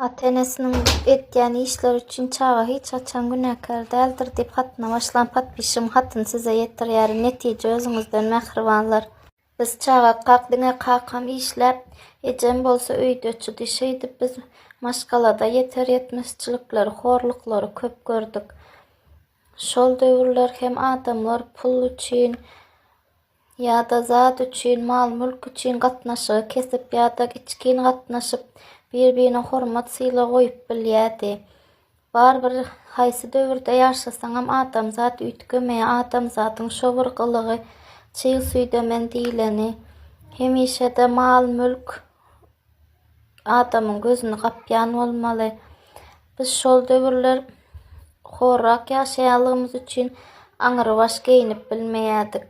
Ata-enesiniň etýän işleri üçin çaga hiç haçan günäkär däldir diýip hatyna başlan patpişim hatyny size ýetirýärin netije özüňizden mähribanlar. Biz çagakak diňe kakam işläp ejem bolsa öýdeçidi şeýdip biz maşgalada ýeter ýetmezçilikleri horluklary köp gördük. Şol döwürler hem adamlar pul üçin ýa-da zat üçin, mal-mülk üçin gatnaşygy kesip ýa-da içgin gatnaşyp, bir-birine hormat-sylag goýup bilýärdi. Barybir, haýsy döwürde ýaşasaňam, adamzat üýtgemeýär, adamzadyň şo bir gylygy, çyg süýdemen diýleni, hemişe-de mal-mülk, adamyň gözüni gapýan bolmaly. Biz şol döwürler horrak ýaşaýanlygymyz üçin aňrybaş geýinip bilmeýärdik.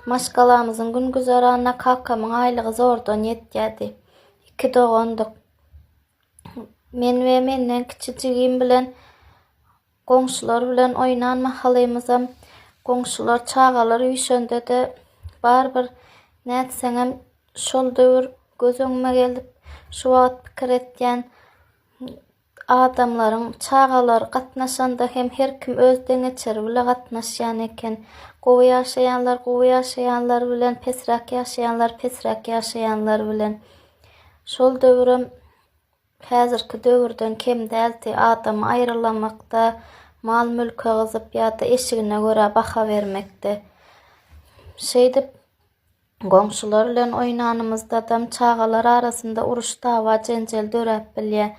Maşgalamyzyň gün-güzeranyna kakamyň aýlygy zordan ýetýärdi. Iki dogandyk. Men we menden kiçi jigim bilen Goňşular bilen oýnan mahalymyzam, goňşular çagalar üýşende-de, barybir nätseňem şol döwür göz öňüme gelip, şu wagt pikir etýän, adamlaryň çagalar gatnaşanda hem her kim öz deňeçeri bile gatnaşýan eken. Gowy ýaşaýanlar gowy ýaşaýanlar bilen, pesräk ýaşaýanlar pesräk ýaşaýanlar bilen. Şol döwürem. Häzirki döwürden kem däldi, adamy aýrylamakda, mal-mülke gyzyp ýa-da eşigine görä baha bermekde. Şeýdip, goňşular bilen oýnanymyzdadam çagalar arasynda uruş-dawa, jenjel döräp bilýär.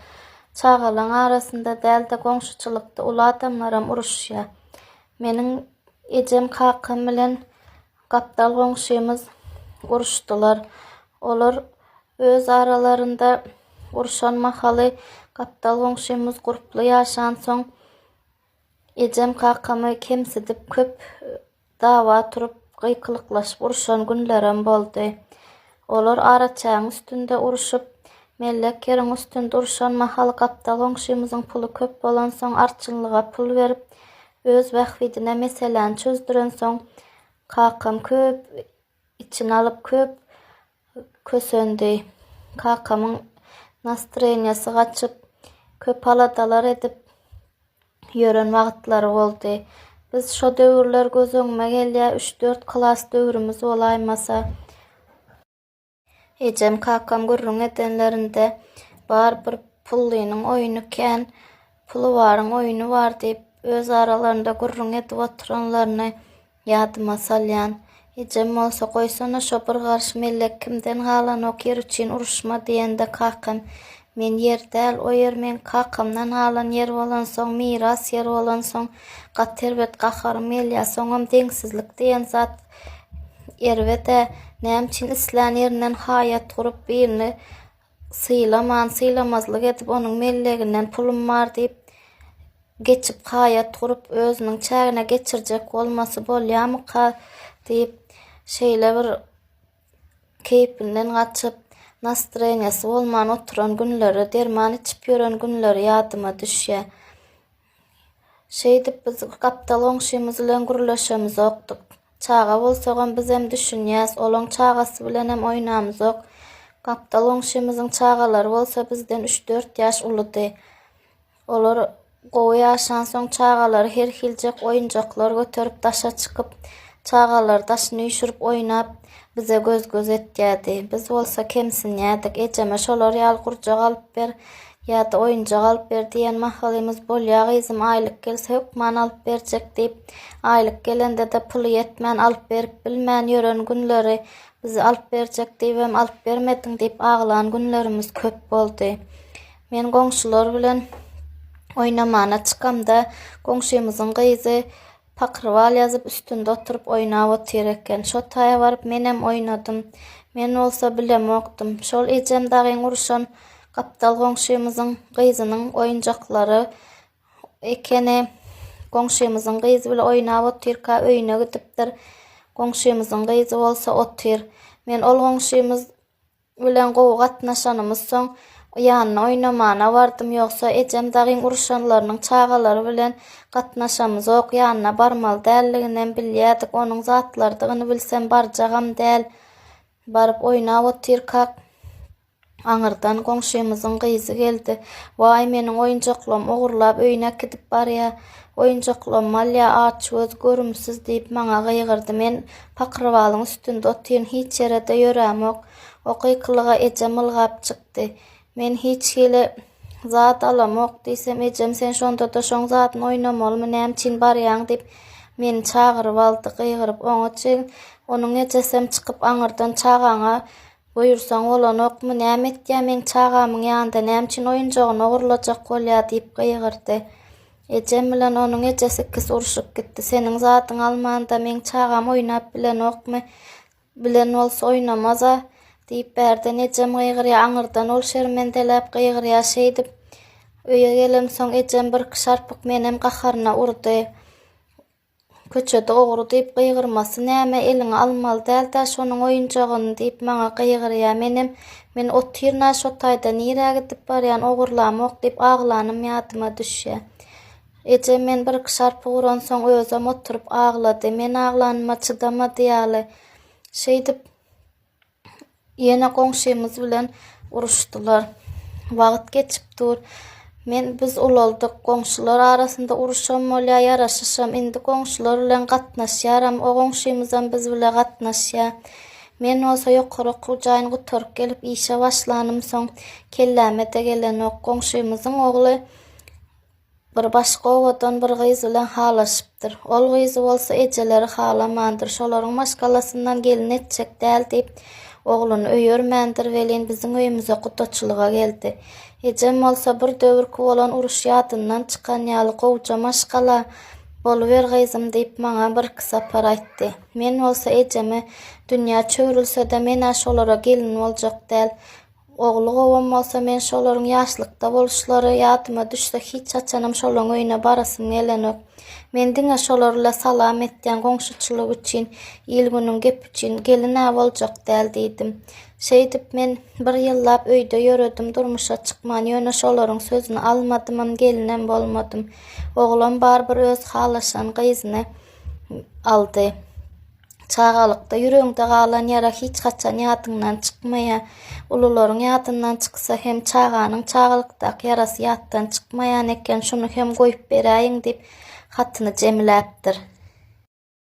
Çagalaň arasynda däl-de, goňşuçylykda uly adamlaram uruşýar. Meniň ejem kakam bilen Gapdal goňşymyz uruşdylar. Olar öz aralarynda uruşan mahaly gapdal goňşymyz gurply ýaşansoň, ejem kakamy kemsidip köp dawa turup, gykylyklaşyp uruşan günlerem boldy. Olar araçägiň üstünde uruşyp, mellek ýeriň üstünde uruşan mahaly gapdal goňşymyzyň puly köp bolansoň arçynlyga pul berip, Öz bähbidine meseläni çözdürensoň, kakam köp içini alyp, köp kösendi. Kakamyň nastreniýasy gaçyp, köp aladalar edip ýören wagtlary boldy. Biz şo döwürler göz öňüme gelýär, üç-dört klas döwrümiz bolaýmasa. Ejem, kakam gürrüň edenlerinde, Bar bir pullynyň oýny kän, puly baryň oýny bar diýip, öz aralarynda gürrüň edip oturanlaryny ýadyma salýan. Ejem bolsa, Goýsana, şo bir garşy mellek kimden galanok, ýer üçin uruşma diýende, kakam, Men ýer däl, o ýer meň kakamdan galan ýer bolansoň, miras ýer bolansoň, gaty erbet gaharym gelýär. Soňam deňsizlik diýen zat erbet-ä. Näme üçin islän ýerinden haýat gurup, birini sylaman, sylamazlyk edip, onuň melleginden pulum bar diýip, geçip haýat gurup, özüniň çägine geçirjek bolmasy bolýarmyka diýip, şeýle bir keýpinden gaçyp, nastroýeniýesi bolman oturan günleri, derman içip ýören günleri ýadyma düşýär. Şeýdip biz gapdal goňşymyz bilen gürleşemizokdyk. Çaga bolsagam bizem düşünýäs, olaň çagasy bilenem oýnamzok. Gapdal goňşymyzyň çagalary bolsa bizden üç-dört ýaş uludy. Olar gowy ýaşansoň, çagalary her hiljek oýunjaklar göterip daşa çykyp, çagalar daşyny üýşürip oýnap, bize göz-göz etýärdi. Biz bolsa kemsinýärdik. Ejeme şolar ýaly gurjak alyp ber ýa-da oýunjak alyp ber diýen mahalymyz, Bolýa gyzym, aýlyk gelse hökman alyp berjek diýip, aýlyk gelende-de puly ýetmän, alyp berip bilmän ýören günleri, bize alyp berjek diýibem alyp bermediň diýip aglan günlerimiz köp boldy. Men goňşular bilen oýnamana çykamda, goňşymyzyň gyzy pakrwal ýazyp, üstünde oturyp oýnap otyr eken. Şo taýa baryp menem oýnadym. Men bolsa bilemokdym. Şol ejem dagyn uruşan gapdal goňşymyzyň gyzynyň oýunjaklary ekeni. Goňşymyzyň gyzy bile oýnap otyrka öýüne gidipdir. Goňşymyzyň gyzy bolsa otyr. Men ol goňşymyz bilen gowy gatnaşanymyz soň ýanyna oýnamana bardym ýogsa ejem dagyn uruşanlarynyň çagalary bilen gatnaşamyzok ýanyna barmaly däldiginem bilýädik onuň zatlardygyny bilsem barjagam däl baryp oýnap otyrkak aňyrdan goňşymyzyň gyzy geldi waý meniň oýunjaklarymy ogurlap öýüne äkidip barýa oýunjaklarymy alýa aç göz görümsiz diýip maňa gygyrdy men Pakyrwalyň üstünde otyryn, hiç ýere-de ýörämok. O gykylyga ejem ylgap çykdy. Men hiç hili zat alamok diýsem, ejem sen şonda-da şoň zadyny oýnamalymy, nämüçin barýaň diýip, meni çagyryp aldy. Gygyryp oňa çyn. Onuň ejesem çykyp aňyrdan çagaňa buýursaň bolanokmy, näme etýär meň çagamyň ýanynda, nämüçin oýunjagyny ogurlajak bolýar diýip gygyrdy. Ejem bilen onuň ejesi ikisi urşup gitdi. Seniň zadyňy almanda meň çagam oýnap bilenokmy? Bilen bolsa oýnamaz-a, diýip bärden ejem gygyrýar, aňyrdan ol şermendeläp gygyrýar. Şeýdip, öýe gelemsoň, ejem birki şarpyk menem gaharyna urdy. Köçede ogry diýip gygyrmasy näme, eliňe almaly däl-dä şonuň oýunjagyny diýip maňa gygyrýa. Menem, Men otyryn-a şo taýda, nirä gidip barýan, ogurlamok diýip aglanym ýadyma düşýä. Ejem men birki şarpy uransoň özem oturyp aglady. Men aglanyma çydamady ýaly, şeýdip, Ýene goňşymyz bilen uruşdylar. Wagt geçip dur. Men biz ulaldyk. Goňşular arasynda uruşam bolýar, ýaraşyşam. Indi goňşular bilen gatnaşýaram. O goňşymyzam biz bile gatnaşýar. Men bolsa ýokary okuw jaýyny gutaryp gelip işe başlanym soň kelläme-de gelenok. Goňşymyzyň ogly Bir başga owadan bir gyz bilen halaşypdyr. Ol gyzy bolsa ejeleri halamandyr. Şolaryň maşgalasyndan gelin etjek däl diýip, ogluny öýermändir welin, biziň öýümize gudaçylyga geldi. Ejem bolsa bir döwürki bolan uruş ýadyndan çykan ýaly gowja maşgala, Boluber gyzym diýip, maňa birki sapar aýtdy. Men bolsa ejeme, Dünýä çöwrülse-de, men-ä şolara gelin boljak däl. Ogly gowam bolsa, men şolaryň ýaşlykda boluşlary ýadyma düşse, hiç haçanam şolaryň öýüne barasym gelenok. Men diňe şolar-la salam etýän goňşuçylyk üçin, il-günüň gepi üçin, gelin-ä boljak däl diýdim. Şeýdip, men bir ýyllap öýde ýöredim, durmuşa çykman. Ýöne şolaryň sözüni almadymam, gelinem bolmadym. Oglam barybir öz halaşan gyzyny aldy. Çagalykda ýüregiňde galan ýara hiç haçan ýadyňdan çykmaýar. Ulularyň ýadyndan çyksa hem çaganyň çagalykdaky ýarasy ýatdan çykmaýan eken, şuny hem goýup beräýiň diýip, hatyny jemläpdir.